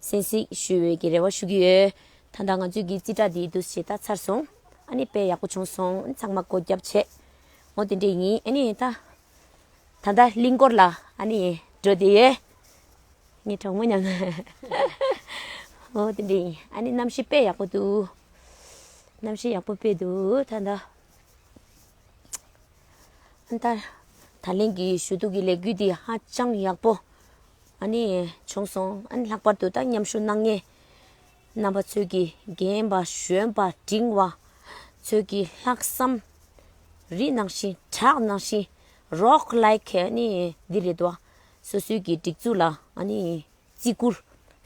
གསན་གཟིགས་ཞུ་འོས་ཀྱི་རེ་བ་ཞུ་གི་ཡོད། ད་ལྟ་ང་ཚོས་ཀྱི་རྩིས་ཁྲ་འདིའི་བསྡུ་བྱེད་ད་ཚར་སོང། ཨཱ་ནི་དཔེ་ཡག་པོ་བྱུང་སོང་ཚང་མ་སྒོ་རྒྱབ་བྱས། ངོ་དེ་འདྲས་ཡིན་ཨཱ་ནི་ད། ད་ལྟ་གླིང་སྐོར་ལ་ཨཱ་ནི་འགྲོ་བསྡད་ཡོད། ངའི་གྲོགས་མོ་མཉམ། ངོ་དེ་འདྲས་ཡིན་ཨཱ་ནི་གནམ་གཤིས་དཔེ་ཡག་པོ་འདུག། གནམ་གཤིས་ཡག་པོ་དཔེ་འདུག་ད་ལྟ། ཨཱ་ནི་ད། ད་ལན་གྱི་ཞུ་གཏུག་གི་ལས་འགུལ་འདི་ཧ་ཅང་ཡག་པོ། ཨ་ནི། བྱུང་སོང། ཨ་ནི་ལྷག་པར་དུ་ད་མཉམ་ཞུགས་གནང་མཁན་རྣམ་པ་ཚོས་ཀྱིས་རྒན་པ་གཞོན་པ་འབྲིང་བ་ཚོས་ཀྱི་ལྷག་བསམ་རིག་གནང་བཞིན་གྲགས་གནང་བཞིན་རོགས་ལེགས་ཨ་ནི་འདི་རེད་དོ། སོ་སོའི་གི་སྒྲིག་འཛུགས་ལ་ཨ་ནི་བརྩི་བཀུར།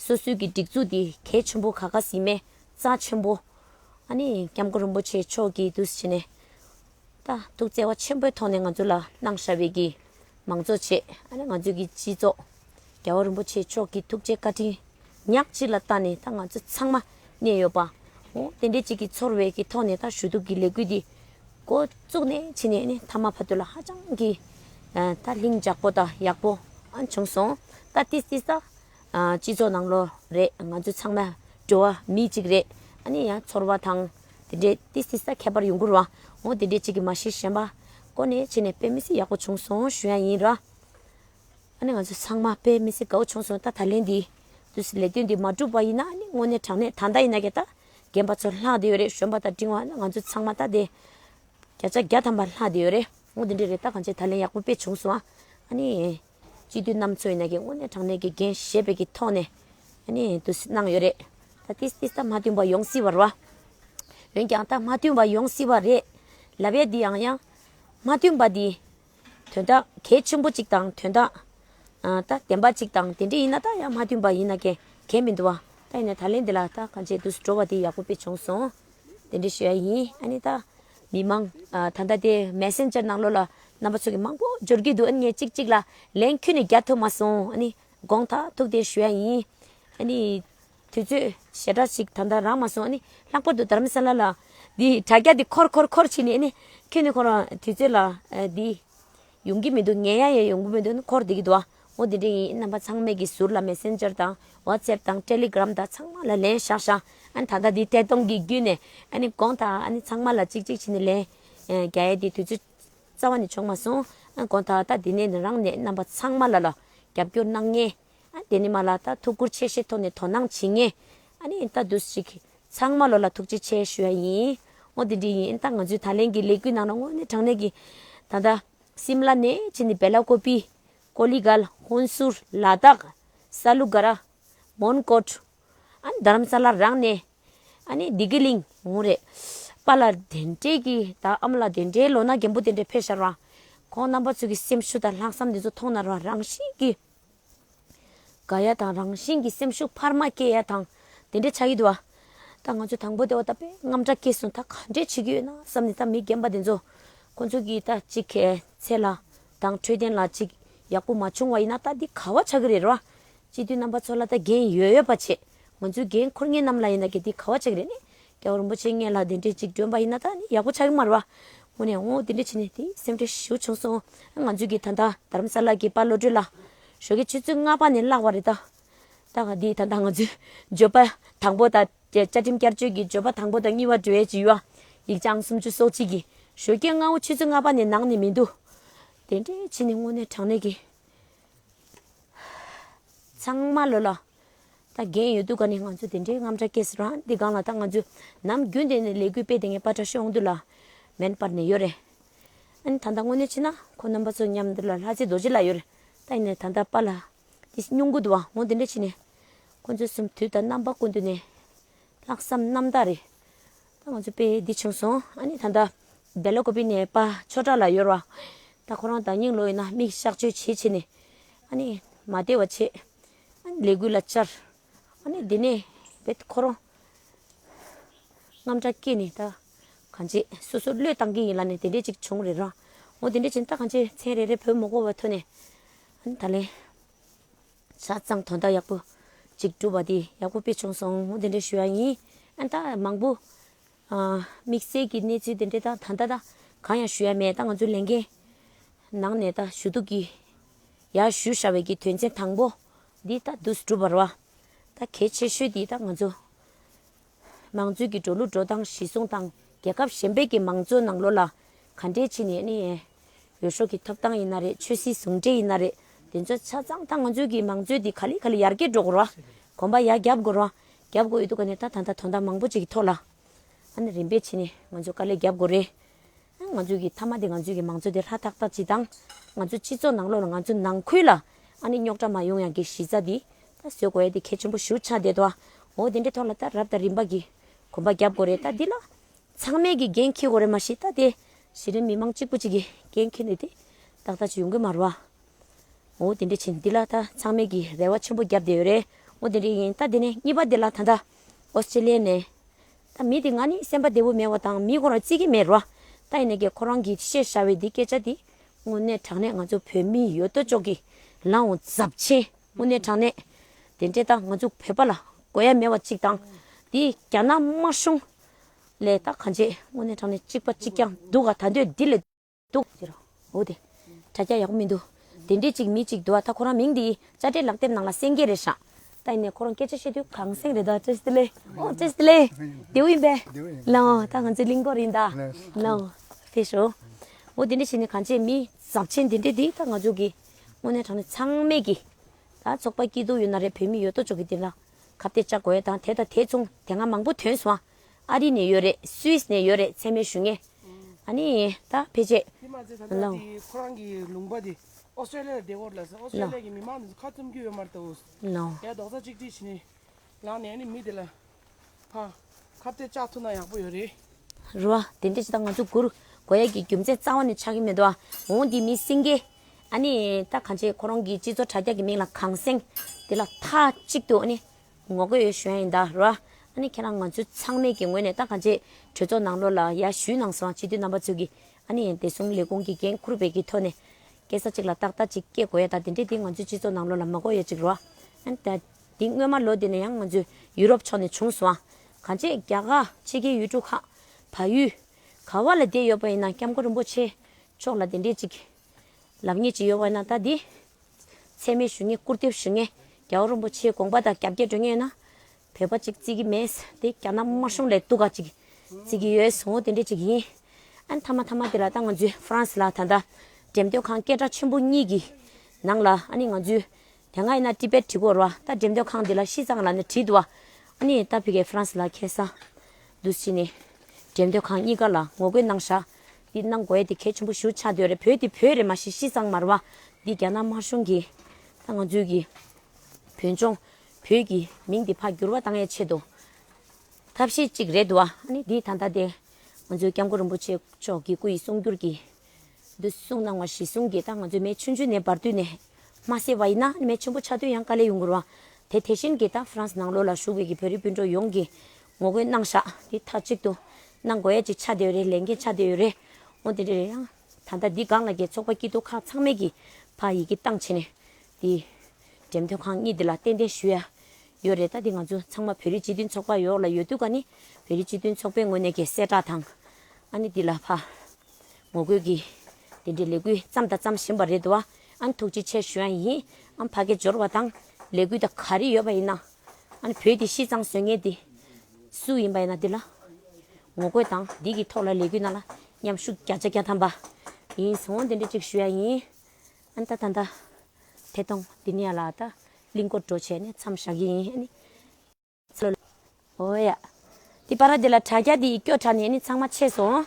སོ་སོའི་གི་སྒྲིག་འཛུགས་འདི་གལ་ཆེན་པོ་ག་ག་ཟིན་མའི་རྩ་ཆེན་པོ། ཨ་ནི་སྐྱབས་མགོན་རིན་པོ་ཆེ་མཆོག་གིས་དུས་ཕྱིས་ནས། ད་ཐུག་བརྩེ་བ་ཆེན་པོའི་ཐོག་ནས་ང་ཚོ་ལ་གནང་ཧྲ་བའི་གི་མང་གཙོ་ཆེད་ཨ་ནི་ང་ཚོའི་གི་སྤྱི་གཙོ་རྒྱལ་བ་རིན་པོ་ཆེ་མཆོག་གི་ཐུགས་རྗེ་བཀའ་དྲིན་ཉག་གཅིག་ལ་བལྟ་ནས་ད་ང་ཚོ་ཚང་མ་གནས་ཡོད་པ་འོ་དེ་འདྲའི་གཅིག་གི་ཚོར་བའི་གི་ཐོག་ནས་ད་ཞུ་གཏུག་གི་ལས་འགུལ་འདི་འགོ་བཙུགས་ནས་ཕྱིན་ནས་ཨ་ནི་མཐའ་མ་བར་དུ་ལ་ཧ་ཅང་གི་ད་ལྷིང་འཇགས་པོ་དང་ཡག་པོ་ཨང་བྱུང་སོང་ད་ཏིས་ཏིས་ད། སྤྱི་ཚོགས་ནང་ལོ་རེ་ང་ཚོ་ཚང་མ་འགྲོ་བ་མི་གཅིག་རེད་ཨ་ནི་ཡང་ཚོར་བ་དང་དེ་འདྲའི་ཏི་སི་ས་ཁྱད་པར་ཡོང་ཁུར་བ་ངོ་དེ་འདྲའི་གཅིག་གི་མ་གཞི་གཞན་པ་ཀོ་ནས་ཕྱི་ནས་དཔེ་མི་སྲིད་ཡག་པོ་བྱུང་སོང་ཞུ་ཡ་ཡིན་ར་ཨ་ནི་ང་ཚོ་ཚང་མ་དཔེ་མི་སྲིད་དགའ་བོ་བྱུང་སོང་ད་ད་ལན་འདི་དུས་སུ་ལས་དོན་འདི་མ་བསྒྲུབ་པ་ཡིན་ན་ཨ་ནི་དངོས་གནས་དྲང་གནས་ད་ལྟ་ཡིན་ན་གད་ད་རྒན་པ་ཚོ་ལྷག་དེ་ཡོད་རེད་གཞོན་པ་དང་འབྲིང་བ་ང་ཚོ་ཚང་མ་ད་དེ་བརྒྱ་ཆ་བརྒྱ་ཐམ་པ་ལྷག་དེ་ཡོད་རེད་ངོ་དེ་འདྲའི་རེད་ད་གང་བྱས་ད་ལན་ཡག་པོ་དཔེ་བྱུང་སོང་ཨ་ནི། སྤྱི་འཐུས་རྣམས་ཚོའི་ནས་ཀྱི་དངོས་གནས་དྲང་གནས་ཀྱི་འགན་བཞེས་པའི་ཀྱི་ཐོག་ནས་དུ་གནང་ཡོད་རེད། ད་ཏིས་ཏིས་ད་མ་བསྟུན་པ་ཡོང་སྲིད་པ་རེད། འོན་ཀྱང་ད་མ་བསྟུན་པ་ཡོང་སྲིད་པ་རེད། ལབ་ཡས་འདི་ཡང་ཡང་མ་བསྟུན་པ་འདི་དོན་དག་གལ་ཆེན་པོ་ཅིག་དང་དོན་དག་ད་བདེན་པ་ཅིག་དང་དེ་འདྲས་ཡིན་ན་ད་ཡང་མ་བསྟུན་པ་ཡིན་ན་ཀྱི་གལ་མི་འདུག་བ། ད་ཡིན་ན་ད་ལན་འདི་ལ་ད་གང་བྱས་འདུག་སྤྲོ་བ་འདི་ཡག་པོ་པོ་བྱུང་སོང། དེ་འདྲའི་ཞུ་ཡ་ཡིན་ཨ་ནི་ད། མི་མང་ད་ལྟ་དེ Messenger ནང་ལོ་ལ་རྣམ་པ་ཚོ་གི་མང་པོ་འབྱོར་གྱི་འདུག་ཨ་ནི་ངས་གཅིག་གཅིག་ལ་ལན་ཁྱོད་ནས་རྒྱ་ཐོས་མ་སོང་ཨ་ནི་དགོངས་དག་ཐུགས་རྟེན་ཞུ་ཡ་ཡིན། ཨ་ནི། དུས་ཚོད་ཞེ་དྲག་ཅིག་ད་ལྟ་རག་མ་སོང་ཨ་ནི་ལྷག་པར་དུ་དར་ས་ལ་ལ། འདི་དྲ་རྒྱ་འདི་འཁོར་འཁོར་འཁོར་ཕྱིན་ནས་ཨ་ནི་ཁྱོད་ནས་ཁོ་རང་དུས་ཚོད་ལ་འདི། ཡོང་གི་མི་འདུག་ངས་ཡང་ཡང་ཡོང་གི་མི་འདུག་འཁོར་བསྡད་ཀྱི་འདུག་ངོ་དེ་འདྲས་ཡིན་རྣམ་པ་ཚང་མས་ཀྱི་ཟུར་ལ Messenger དང WhatsApp དང Telegram དང་ཚང་མ་ལ་ལན་བཞག་བཞག་ཨ་ད་ལྟ་འདི་ཐད་གཏོང་གི་བརྒྱུད་ནས་ཨ་ནི་དགོངས་དག་ཨ་ནི་ཚང་མ་ལ་གཅིག་གཅིག་བྱས་ནས་ལན་རྒྱ་ཡས་འདི་དུས་ཚོད་རྩ་བ་ནས་བྱུང་མ་སོང་ཨ་དགོངས་དག་ད་འདི་ནས་རང་ནས་རྣམ་པ་ཚང་མ་ལ་ལ་རྒྱབ་སྐྱོར་གནང་ངེས། དེ་ནི་མ་ལགས་ད་ཐུགས་ཁུར་ཆེ་བཞེས་ཐོག་ནས་དོ་སྣང་བྱེད་ངེས། ཨཱ་ནི་ཨིན་ད་འདུག་ཅིག། ཚང་མ་ལོ་ལ་ཐུགས་རྗེ་ཆེ་ཞུ་ཡ་ཡིན། ངོ་དེ་འདྲས་ཡིན་ཨིན་ད་ང་ཚོའི་ད་ལན་གྱི་ལས་འགུལ་ནང་ན་དངོས་གནས་དྲང་གནས་ཀྱི། ད་ལྟ། སིམ་ལ་ནས་ཕྱིན་ཏེ་བེ་ལ་ཀོ་པི། ཀོ་ལི་གྷལ། ཧུན་སུར། ལ་དྭགས། ས་ལུ་གྷ་ར། མོན་གོར། ཨཱ་ནི་རྡ་རམ་ས་ལར་རང་གནས། ཨཱ་ནི་སྡི་ཀི་གླིང། ངོ་རེད། པ་ལ་དེ་འདྲས་ཀྱི་ད་ཨ་མ་ལ་དེ་འདྲའི་ལོ་ན་རྒན་པོ་དེ་འདྲས་ཕེབས་ཤར་བ། ཁོང་རྣམ་པ་ཚོ་གི་སེམས་ཤུགས་དང་ལྷག་བསམ་དེ་ཚོ་མཐོང་ན་རང་བཞིན་གྱིས། དགའ་ཡ་དང་རང་བཞིན་གྱི་སེམས་ཤུགས་འཕར་མ་སྐྱེ་ཡ་དང་དེ་འདྲའི་ཆ་ཡོད་དུ་བ། ད་ང་ཚོས་དང་པོ་དེ་བ་ད་པདྨ་དྲག་སྐྱེད་སོང་ད་ག་འདྲས་བྱེད་ཀྱི་ཡོད་ན་བསམ་ནས་ད་མི་རྒན་པ་དེ་ཚོ་ཁོ་ཚོ་གིས་ད་གཅིག་གལ་ཚེ་ལ་དང་འཕྲོད་བསྟེན་ལ་གཅིག་ཡག་པོ་མ་བྱུང་བ་ཡིན་ན་ད་འདི་ག་བ་ཆགས་ཀྱི་རེད་ར་བ། སྤྱི་འཐུས་རྣམ་པ་ཚོ་ལ་ད་འགན་ཡོད་ཡོད་པ་བྱེད་ང་ཚོའི་འགན་འཁུར་ངེད་རྣམས་ལ་ཡིན་ན་གལ་འདི་ག་བ་ཆགས་ཀྱི་རེད་ནི་རྒྱལ་བ་རིན་པོ་ཆེ་ངེད་ལ་དེ་འདྲའི་ཅིག་སྒྲོན་པ་ཡིན་ན་ད་ནི་ཡག་པོ་ཆགས་ཀྱི་མ་རེད་བ། ངོ་ནས་ཨོ་དེ་འདྲ་བྱས་ནས་དེ་སེམས་ཁྲལ་ཞུ་བྱུང་སོང་ང་ཚོས་ཀྱིས་ད་ལྟ་དར་རམ་ས་ལ་གྱི་དཔའ་བློ་གྲོས་ལ་ཞོགས་ཀྱི་ཆུ་ཚོད་ལྔ་པ་ནས་བརླག་བ་རེད་ད། ད་ག་དེས་ད་ལྟ་ང་ཚོས་བརྗོད་པ་དང་པོ་དང་བཅའ་ཁྲིམས་བསྐྱར་བཅོས་ཀྱི་བརྗོད་པ་དང་པོ་དང་གཉིས་བ་བགྲོ་ཡས་ཀྱི་ཡུལ་བ་ཡིག་ཆ་ཨང་སུམ་བཅུ་སོ་གཅིག་གིས་ཞོགས་ཀྱི་རྔ་བོ་ཆུ་ཚོད་ལྔ་པ་ནས་ནང་ནས་མི་འདུག་དེ་འདྲས་བྱས་ནས་ངོ་ནས་དྲང་གནས་ཀྱི་ཚང་མ་ལོས་ལ། ད་རྒན་ཡོད་དུས་ག་ནས་ང་ཚོས་དེ་འདྲའི་རྔམ་སྒྲ་སྐད་སེར་རང་འདི་སྒང་ལ་ད་ང་ཚོས་ནམ་རྒྱུན་དེ་ནས་ལས་འགུལ་སྤེལ་དེ་ངས་པ་ཏྲ་ཤོད་འོང་དུས་ལ་མེན་པར་ནས་ཡོད་རེད། ཨ་ནི་ད་ལྟ་དངོས་གནས་ཕྱིན་ན་ཁོ་རྣམ་པ་ཚོ་མཉམ་འདིར་ལ་ལྷ་རྩེ་རྡོ་རྗེ་ལ་ཡོད་རེད་ད་ཡིན་ནའི་ད་ལྟ་པ་ལ་དེ་སྙུང་གུ་དུ་བ་ངོ་དེ་འདྲས་ཕྱིན་ནས་ཁོ་ཚོའི་གསུམ་དུས་ད་རྣམ་པ་དཀོན་དུས་ནས་ལྷག་བསམ་རྣམ་དག་རེད། ད་ང་ཚོས་པས་འདི་ཕྱིན་སོང་ཨ་ནི་ད་ལྟ་སྦེ་ལ་ཀོ་པི་ནས་པ་ཆོས་གྲགས་ལ་ཡོད་རེད་ད་ཁོ་རང་དང་སྙིང་ལོ་ཡིན་ན་མིག་གཤགས་བཅོས་བྱེད་ཆེད་ནས་ཨ་ནི་མ་བདེ་བ་བྱེད། ལས་གུད་ལ་བཅར། དེ་ནས་བེད་ཁོ་རང། རྔམ་སྐྲག་སྐྱེས་ནས་ད་གང་བྱེད། སོ་སོར་བློས་བཏང་གི་ཡིན་ལ་ནི་དེ་འདྲས་ཅིག་བྱུང་རེད་རང། འོ་དེ་འདྲས་བྱས་ནས་ད་གང་བྱེད་མཚན་རེ་རེ་བུ་མོ་སྒོ་བ་ཐོན་ནས། ད་ལན། ཆ་ཚང་དོ་ཟླ་ཡག་པོ་ཅིག་བསྒྲུབས་པ་དེ་ཡག་པོ་དཔེ་བྱུང་སོང་ངོ་དེ་འདྲས་ཞུ་ཡ་ཡིན། ད་མང་པོ། དམིགས་བསལ་གྱི་གནས་ཚུལ་དེ་འདྲའི་དང་ད་ལྟ་ད་གང་ཡང་ཞུ་ཡ་མེད་ད་ང་ཚོའི་ལས་འགན་ནང་ནས་ད་ཞུ་གཏུགས་ཀྱི་ཡ་ཞུ་ཧྲ་བའི་ཀྱི་དོན་ཚན་དང་པོ་འདི་ད་འདུག་སྒྲུབ་པར་བ་ད་གལ་ཆེ་ཤོས་དེ་ད་ང་ཚོ་མང་གཙོའི་ཀྱི་འགྲོ་ལུགས་འགྲོ་སྟངས་གཞི་བཟུང་དང་རྒྱལ་ཁབ་གཞན་པའི་ཀྱི་མང་གཙོའི་ནང་ལོ་ལ་ག་འདྲའི་ཆེ་ནས་ནི་ཡོ་ཤོ་ཀྱི་ཐོབ་སྟངས་ཡིན་ན་རེད་ཆོས་སྲིད་ཟུང་འབྲེལ་ཡིན་ན་རེད་དེ་ཚོ་ཆ་ཚང་ད་ང་ཚོའི་ཀྱི་མང་གཙོའི་དེ་ག་ལེ་ག་ལེ་ཡར་རྒྱས་འགྲོ་དགོར་བ་གོམ་པ་ཡ་རྒྱབ་དགོར་བ་རྒྱབ་དགོས་ཡོད་འདུག་ག་ནས་ད་ད་ལྟ་དོན་དག་མང་པོ་ཅིག་གི་ཐོག་ལ་ཨ་ནི་རིམ་པས་ཕྱིན་ནས་ང་ཚོས་དཀའ་ལས་རྒྱབ་དགོས་རེད། ང་ཚོས་ཀྱི་མཐའ་མ་དེ་ང་ཚོས་ཀྱི་མང་གཙོ་དེ་ཧྲ་ཐག་ཐག་སྤྱི་དང། ང་ཚོའི་སྤྱི་ཚོགས་ནང་ལོགས་ལ་ང་ཚོའི་ནང་ཁུལ་ལ་ཨ་ནི་རྙོག་དྲ་མ་ཡོང་ཡང་གི་གཞི་རྩ་དེ་ད་བཟོས་དགོས་ཡ་དེ་གལ་ཆེན་པོ་ཞུ་ཆགས་བསྡད་དོ། འོ་དེ་འདྲའི་ཐོག་ལ་ད་རབ་དང་རིམ་པ་གྱི་གོམ་པ་རྒྱབ་དགོས་རེད་ད་འདི་ལ་ཚང་མས་ཀྱི་འགན་འཁྱེར་དགོས་རེད་མ་གཞི་ད་དེ་གཞི་རིམ་མི་མང་གཅིག་པུ་གཅིག་གི་འགན་འཁྱེར་ནས་དེ་ཏག་ཏག་ཅིག་ཡོང་གི་མ་རུ་ཨ། འོ་དེ་འདྲས་བྱིན་འདི་ལ་ད་ཚང་མེད་ཀྱི་རེ་བ་ཆེན་པོ་བརྒྱབ་བསྡད་ཡོད་རེད་འོ་དེ་འདྲས་ཡིན་ད་དེ་ནས་གཉིས་པ་དེ་ལ་ད་ལྟ་ཨོ་སི་ཏྲེ་ལི་ཡའི་ནས་ད་མི་དེ་ང་ནི་སེམས་པ་བདེ་བོ་མེད་བ་དང་མིའི་གོ་ར་རྩིས་ཀྱི་མེད་རོ་ད་ཡིན་ནའི་གེ་ཁོ་རང་གིས་བཤད་ཤར་བའི་འདི་སྐད་ཆ་དེ་དངོས་གནས་དྲང་གནས་ང་ཚོ་བོད་མིའི་ཡོད་དོ་ཅོག་གི་ལང་འོ་ཟབ་ཆེན་དངོས་གནས་དྲང་གནས་དེ་འདྲས་ད་ང་ཚོ་བོད་པ་ལ་གོ་ཡ་མེད་བ་གཅིག་དང་དེ་རྒྱ་ནག་དམར་གཞུང་ལས་ད་གང་བྱས་དངོས་གནས་དྲང་གནས་གཅིག་པ་གཅིག་ཀྱང་འདུག་ག་ད་འདོད་འདི་ལས། འདུག། ཅེས་རོ། འོ་དེ། དྲ་རྒྱ་ཡག་པོ་མི་འདུག། དེ་འདྲས་ཅིག་མི་གཅིག་འདུག་ཨ་ད་ཁོ་རང་མིང་འདི་དཔྱ་ཁྲལ་ལག་དེབ་ནང་ལ་སེང་གེ་རེད་ཧྲ། ད་ཡིན་ནའི་ཁོ་རང་སྐད་ཆ་བཤད་དུས་གངས་སེང་རེད་ད་ཀྲེ་སི་ལེ། ཨོ་ཀྲེ་སི་ལེ། རྡེའུ་ཡིན་པས། ལན། འོ་ད་ང་ཚོའི་གླིང་སྐོར་ཡིན་ད། ལན། འོ་དེ་ཞོ། འོ་དེ་འདྲས་བྱས་ནས་གངས་ཅན་མི་ཟབ་ཆེན་དེ་འདྲས་འདིས་ད་ང་ཅོག་གིས། དངོས་གནས་དྲང་ནས་ཚང་མས་ཀྱིས། ད་ཚོགས་པ་སྐྱིད་སྡུག་ཡོད་ན་རེད་བོད་མི་ཡོད་དོ་ཅོག་གིས་འདི་ལ། ཁ་བཏད་བཅའ་དགོས་ད་དེ་དང་དེ་མཚུངས་དེ་སྔ་མང་པོ་དོན་སུའང། ཨ་རི་ནས་ཡོད་རེད Swiss ནས་ཡོད་རེད་ཚད་མའི་ཞུ་ངེས་ཨ་ནི་ད་ཕེ་ཆེད་དེ་མ་ཟད་ད་ལྟ་དེ་ཁོ་རང་གི་ལུང་པ་དེ་ཨོ་སི་ཏྲེ་ལི་ཡར་བསྡད་སྐོར་ལ་ཟེར་ཨོ་སི་ཏྲེ་ལི་ཡ་གི་མི་མང་དེ་ཚོ་ཁ་བཙུམ་རྒྱུ་ཡོད་མ་རེད་དོ། ཡ་རྡོག་རྩ་གཅིག་སྒྲིལ་བྱེད་ནས་ལངས་ནས་ཨ་ནི་མི་དེ་ལ་ཕ་ཁ་བརྡའི་ལྕགས་ཐུག་ན་ཡག་པོ་ཡོད་རེད། རེད་བ། དེ་འདྲ་བྱེད་ད་ང་ཚོ་གུར་གོ་ཡ་གི་རྒྱུ་མཚན་གཙང་བ་ནས་ཆགས་ཀྱི་མེད་དོ་ཨ་འོང་འདི་མི་སེང་གེ་ཨ་ནི་ད་གང་བྱེད་ཁོ་རང་གི་སྤྱི་ཚོགས་དྲ་རྒྱ་གི་མིང་ལ་གངས་སེང་དེ་ལ་མཐའ་གཅིག་ཏུ་ཨ་ནི་ངོ་རྒོལ་ཡོད་བཞོན་ཡིན་ད་ར། ཨ་ནི་ཁྱེད་རང་ང་ཚོའི་ཚང་མས་ཀྱི་ངོས་ནས་ད་ག་འཇེ་གྲོས་ཚོགས་ནང་ལོག་ལ་ཡ་ཞུས་གནང་སོང་སྤྱི་འཐུས་རྣམ་པ་ཚོས་ཀྱི་ཨ་ནི་བདེ་སྲུང་ལས་ཁུངས་ཀྱི་འགན་འཁུར་བས་ཀྱི་ཐོག་ནས་སྐད་ས་གཅིག་ལ་ཏག་ཏག་ཅིག་སྐྱེ་དགོས་ཡ་ད་དེ་འདྲས་དེ་ང་ཚོའི་སྤྱི་ཚོགས་ནང་ལོག་ལ་མ་གོ་ཡ་ཅིག་ར། ཨན་ད་དེ་སྔོན་མ་ལོ་དེ་ནས་ཡང་ང་ཚོའི་ཡུ་རོབ་ཕྱོགས་ནས་བྱུང་སོང་ག་འཇེ་རྒྱ་གར་ཕྱི་རྒྱལ་ཡུལ་གྲུ་ཁག་བ་ཡུལ་ག་བ་ལ་བསྡད་ཡོད་པ་ཡིན་ན་སྐྱབས་མགོན་རིན་པོ་ཆེ་མཆོག་ལ་དེ་འདྲས་ཅིག་ལབ་ངེས་ཅིག་ཡོད་བ་ཡིན་ན་ད་དེ། ཚད་མེད་ཞུ་ངེས་སྐུར་འདེབས་ཞུ་ངེས། རྒྱ་བོད་རིན་པོ་ཆེའི་དགོངས་པ་དང་རྒྱ་བསྐྱེད་སྒྲོན་ཡོད་ན། བོད་པ་ཅིག་བརྩི་གི་མེད། དེ་རྒྱ་ནག་དམར་གཞུང་ལས་གཏུག་ག་ཅིག་བརྩི་གི་ཡོད་ཟེར་འོ་དེ་འདྲས་ཅིག་ཡིན། ཨ་མཐའ་མ་མཐའ་མ་དེ་ལ་ད་ང་ཚོའི་ཧྥ་རན་སི་ལ་ད་ལྟ་འགྲེམས་སྟོན་ཁང་སྐད་གྲགས་ཆེན་པོ་གཉིས་ཀྱི་ནང་ལ་ཨ་ནི་ང་ཚོའི་དེ་སྔ་ཡིན་ན་ཏི་པེད་བྲིས་སྐོར་བ་ད་འགྲེམས་སྟོན་ཁང་འདི་ལ་ཤི་ཙང་ལ་ནི་བྲིས་འདུག་བ་ཨ་ནི་ད་ཕི་གའི་ཧྥ་རན་སི་ལ་ཁེ་སང་དུ་ཕྱིན་ནས་འགྲེམས་སྟོན་ཁང་གཉིས་ཀ་ལ་ངོ་རྒོལ་གནང་བཞག་འདི་གནང་དགོས་དེ་གལ་ཆེན་པོ་ཞུ་ཆ་འདོད་རེད་བོད་འདི་བོད་རེད་མ་ཤེས་ཤི་ཙང་མར་བ་འདི་རྒྱ་ནག་དམར་གཞུང་གི་ད་ང་ཚོའི་གི་བོད་ལྗོངས་བོད་ཀྱི་མིང་འདི་ཕ་འགྱུར་བ་གཏང་ཡས་ཆེད་དུ་ཐབས་ཤེས་གཅིག་རེད་དུ་བ་ཨ་ནི་འདི་ད་ལྟ་དེ་ང་ཚོའི་སྐྱབས་མགོན་རིན་པོ་ཆེ་མཆོག་གི་སྐུ་ཡི་གསུང་བསྒྱུར་གི་འདི་གསུང་གནང་བ་གཞི་གསུང་གི་ད་ང་ཚོའི་མེ་ཆུ་འཇུ་ནས་བར་དུས་ནས་མ་བསད་བ་ཡིན་ན་ཨ་ནི་མེ་ཆུན་པོ་ཆགས་དུས་ཡང་དཀའ་ལས་ཡོང་དགོས་རུ་བ་དེ་དེ་བཞིན་གི་ད་ཧྥི་རན་སི་ནང་ལོགས་ལ་བཞུགས་བའི་གི་བོད་རིགས་སྤུན་གྲོགས་ཡོངས་གི་ངོ་རྒོལ་གནང་བཞག་དེ་མཐའ་གཅིག་ཏུ་གནང་དགོས་ཡ་གཅིག་ཆགས་བསྡད་ཡོད་རེད་ལས་འགན་ཆགས་བསྡད་ཡོད་རེད་ཨོ་དེ་འདྲ་རེད་ཡ། ད་ལྟ་འདི་སྒང་ལ་རྒྱལ་ཚོགས་པ་སྐྱིད་སྡུག་ཁག་ཚང་མས་ཀྱིས་ཕ་ཡི་གི་བཏང་བྱས་ནས་དེ། འགྲེམས་སྟོན་ཁང་གཉིས་འདི་ལ་ཏན་ཏན་ཞུ་ཡ་ཡོད་རེད་ད་དེ་ང་ཚོ་ཚང་མ་བོད་རིགས་སྤྱི་མཐུན་ཚོགས་པ་ཡོག་ལ་ཡོད་དུས་ཀ་ནི་བོད་རིགས་སྤྱི་མཐུན་ཚོགས་པའི་ངོས་ནས་ཀྱི་གསལ་བསྒྲགས་དང། ཨ་ནི་འདི་ལ་ཕ། ངོ་རྒོལ་གྱི་དེ་འདྲའི་ལས་འགུལ་བརྩམས་དང་བརྩམས་བཞིན་པ་རེད་འདུག་ཨ་ནི་ཐུགས་རྗེ་ཆེ་ཞུ་ཡ་ཡིན་ཨམ་ཕ་སྐད་འབྱོར་བ་དང་ལས་འགུལ་དང་ག་རེ་ཡོད་པ་ཡིན་ན། ཨ་ནི་བོད་དེ་ཤི་ཙང་གཟོད་ངས་དེ། སུ་ཡིན་པ་ཡིན་ན་དེ་ལ། ངོ་རྒོད་དང་དེ་གི་ཐོག་ལ་ལས་གུད་གནང་ལ། མཉམ་ཞུགས་བརྒྱ་ཆ་བརྒྱ་ཐམ་པ། ཡིན་སོང་འདི་འདྲི་གཅིག་ཞུ་ཡ་ཡིན། ཨ་ནི་ད་ད་ད། ཐད་གཏོང་དེ་ནས་ལ་ད། གླིང་སྐོར་བྲོ་བྱས་ནས་མཚམས་བཞག་གི་ཡིན་ཨ་ནི། ཚེ་ལོ་ལོ། འོ་ཡ། དེ་པ་ར་དེ་ལ་དྲ་རྒྱ་དེ་ཡི་སྐྱོ་དྲ་ནས་ཨ་ནི་ཚང་མ་ཆད་སོང།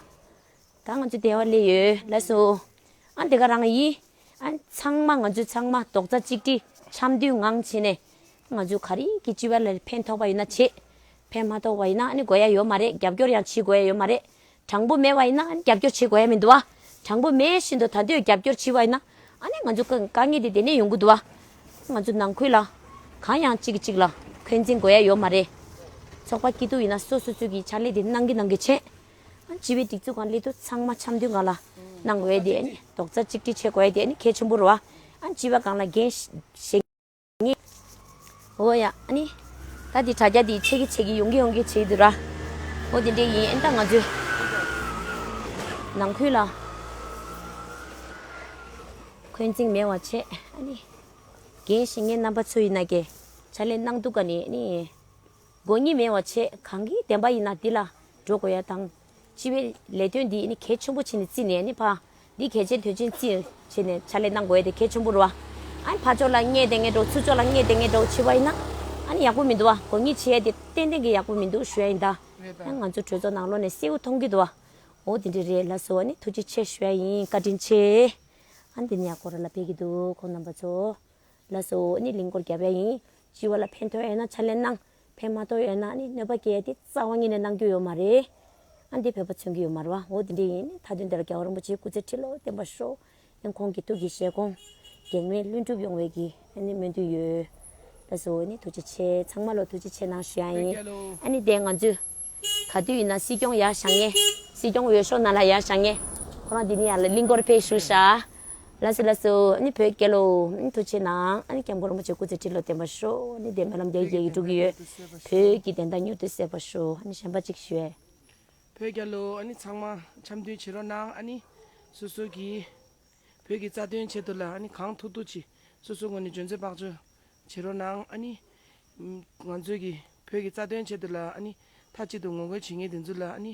ད་ང་ཚོ་བདེ་བ་ལས་ཡོད་ལ་སོ། ཨ་འདི་ག་རང་ཡིན། ཨ་ཚང་མ་ང་ཚོས་ཚང་མ་རྡོག་རྩ་གཅིག་སྒྲིལ་འཆམ་མཐུན་ངང་བྱས་ནས། ང་ཚོས་ག་རེ་གི་སྤྱི་བ་ལ་ཕན་ཐོགས་པ་ཡོད་ན་བྱེད། ཕན་མ་ཐོགས་པ་ཡིན་ན་ཨ་ནི་དགོས་ཡ་ཡོད་མ་རེད་རྒྱབ་སྐྱོར་ཡང་བྱེད་དགོས་ཡ་ཡོད་མ་རེད། དྲང་པོ་མེད་པ་ཡིན་ན་ཨ་ནི་རྒྱབ་སྐྱོར་བྱེད་དགོས་ཡ་མི་འདུག་ཨ། དྲང་པོ་མེད་བཞིན་དུ་ད་དུས་རྒྱབ་སྐྱོར་བྱི་བ་ཡིན་ན་ཨ་ནི་ང་ཚོ་དཀའ་ངལ་དེ་དེ་ནས་ཡོང་གི་འདུག་ཨ། ང་ཚོ་ནང་ཁུལ་ལ་གང་ཡང་གཅིག་གི་གཅིག་ལ་འཁོན་འཛིན་དགོས་ཡ་ཡོད་མ་རེད། ཚོགས་པ་སྐྱིད་སྡུག་ཡིན་ན་སོ་སོ་ཚུལ་གྱི་ཕྱག་ལས་དེ་གནང་གི་གནང་གི་བྱེད། བྱིས་པའི་སྒྲིག་འཛུགས་ཁང་གླིང་དུ་ཚང་མ་འཆམ་མཐུན་གང་ལ་གནང་བའི་དེ་རྡོག་རྩ་གཅིག་སྒྲིལ་བྱེད་དགོས་དེ་གལ་ཆེན་པོ་རེད། བྱིས་པ་གང་ལ་འགན་བཞེས་ངེས། ཨོ་ཡ། ད་དེ་དྲ་རྒྱ་དེ་ཆད་གི་ཆད་གི་ཡོང་གི་ཡོང་གི་བྱེད་ཀྱི་འདུག་ར། ཨོ་དེ་འདྲས་ཡིན་ད་ང་ཚོའི་ནང་ཁུལ་ལ་འཁོན་འཛིང་མེད་བ་བྱེད། འགན་བཞེས་ངེས་རྣམ་པ་ཚོ་ཡིན་ན་གྱི་ཕྱག་ལས་གནང་འདུག་ག་ནི། དགོས་ཉེས་མེད་བ་ཆེ་གང་གི་བདེན་པ་ཡིན་ན་འདི་ལ་འགྲོ་དགོས་ཡ་དང། སྤྱི་བའི་ལས་དོན་འདི་ནི་གལ་ཆེན་པོ་བྱེད་ནས་བརྩིས་ནས་ནི་ཕ། འདི་གལ་ཆེན་དོན་ཆེན་བརྩིས་བྱས་ནས་ཕྱག་ལས་གནང་དགོས་དེ་གལ་ཆེན་པོ་རུ་བ། ཨ་ནི་ཕ་ཕྱོགས་ལ་བརྙས་བདེན་ངན་འགྲོ་ཚུལ་ཕྱོགས་ལ་བརྙས་བདེན་ངན་འགྲོ་བྱེད་པ་ཡིན་ན། ཨ་ནི་ཡག་པོ་མི་འདུག་བ་དགོས་ཉེས་བྱེད་ཡ་དེ་ཏན་ཏན་གྱི་ཡག་པོ་མི་འདུག་ཞུ་ཡ་ཡིན་ད། ཡང་ང་ཚོ་གྲོས་ཚོགས་ནང་ལོ་ནས་གསལ་བོ་མཐོང་གི་འདུག་བ། འོ་དེ་འདྲས་རེད་ལ་ཟེར་བ་ནི་ཐུགས་རྗེ་ཆེ་ཞུ་ཡ་ཡིན་བཀའ་དྲིན་ཆེ། ཨ་ནི་འདི་ནི་ཡག་པོ་ར་ལ་ཕེབས་ཀྱི་འདུག་ཁོང་རྣམ་པ་ཚོ། ལ་ཟེར་བ་འོ་ནི་ལིང་སྐོར་བརྒྱབ་ཡ་ཡིན། སྤྱི་བ་ལ་ཕན་ཐོགས་ཡོད་ན་ཕྱག་ལེན་གནང། ཕན་མ་ཐོགས་ཡོད་ན་ནི་གནོད་པ་སྐྱེལ་ཏེ་རྩ་བ་ཉིད་ནས་གནང་རྒྱུ་ཡོད་མ་རེད། ཨ་འདི་བོད་པ་མཚོན་གྱི་ཡོད་མ་རེད་བ་འོ་དེ་འདྲ་ཡིན་ནི་ད་དུས་འདིར་རྒྱལ་བ་རིན་པོ་ཆེའི་སྐུ་ཚེ་ཁྲི་ལོ་བརྟན་པར་ཤོག་ཨན་ཁོང་གི་ཐུགས་ཀྱི་བཞེད་དགོངས་གེགས་མེད་ལྷུན་གྲུབ་ཡོང་བའི་གི་ཨ་ནི་སྨོན་འདུན་ཡོད། ལས་བཟོ་བོ་ནི་ཐུགས་རྗེ་ཆེ་ཚང་མ་ལོ་ཐུགས་རྗེ་ཆེ་གནང་ཞུ་ཡ་ཡིན་ཨ་ནི་དེ་ང་ཚོས་ག་དུས་ཡིན་ན་སྲིད་སྐྱོང་ཡར་བཞག་ངེས། སྲིད་སྐྱོང་འོས་ཤོག་ནང་ལ་ཡར་བཞག་ངེས། ཁོ་རང་འདི་ནས་ཡར་ལ་གླིང་སྐོར་ཕེབས་ཞུ་ཤག། ལ་སུ་ལ་སུ་ནི་བོད་སྐད་ལོ། ཐུགས་ཆེ་གནང། ཨ་ནི་སྐྱབས་མགོན་རིན་པོ་ཆེ་སྐུ་ཚེ་ཁྲི་ལོ་བརྟན་པ་ཤོག་ཨ་ནི་བདེན་པའི་ལམ་རྒྱ་ཡི་རྒྱལ་གྱིས་སྒྲུབ་གི་ཡོད། བོད་ཀྱི་བདེན་མཐའ་མྱུར་དུ་གསལ་བ་ཤོག་ཨ་ནི་གཞན་པ་གཅིག་ཞུ་ཨེ། བོད་སྐྱ་ལོ་ཨ་ནི་ཚང་མ་འཆམ་མཐུན་བྱེད་རོགས་གནང་ཨ་ནི། སུ་སུ་གི། བོད་ཀྱི་རྩ་དོན་ཆེད་དུ་ལ་ཨ་ནི་གང་ཐུག་ཐུག་གྱིས་སུ་སུ་ངོ་ནས་འཇོན་ཚོད་དཔག་བྱོས་བྱེད་རོགས་གནང་ཨ་ནི། ང་ཚོས་ཀྱི་བོད་ཀྱི་རྩ་དོན་ཆེད་དུ་ལ་ཨ་ནི་མཐའ་གཅིག་ཏུ་ངོ་རྒོལ་བྱེད་ངེས་དེ་ཚོ་ལ་ཨ་ནི།